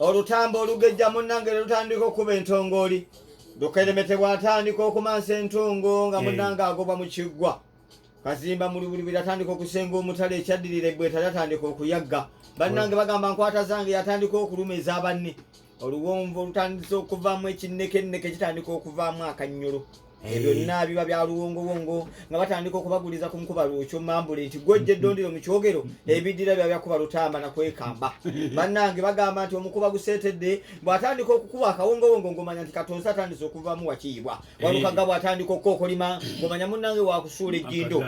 olutambo olugejja munnange ne lutandika okukuba entongooli dukeremete bw'atandika okumansa entungo nga eh. munnange agoba mu kiggwa kazimba mulubulubiri atandika okusenga omutale ekyaddirira ebbwetali atandika okuyagga bannange bagamba nkwata zange yatandika okuluma eza banne oluwonvu olutandise okuvaamu ekinnekenneke kitandika okuvaamu akannyolo Eh. byonna biba bya luwongowongo nga batandika okubaguliza ku nkuba lwokyo mambule nti gwojja eddondiro mu kyogero ebiddira bya byakuba lutamba na kwekamba bannange bagamba nti omukuba guseetedde bw'atandika okukuba akawongowongo ng'omanya nti katonzi atandise okuvamu wakiyibwa eh. walukaga bw'atandika okukokolima ng'omanya munnange wakusuula ejjindo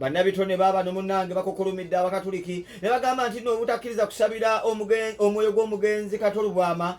bannabitone baaba no munnange bakokolomidde abakatuliki ne bagamba nti no obutakkiriza kusabira omwoyo gw'omugenzi katolubwama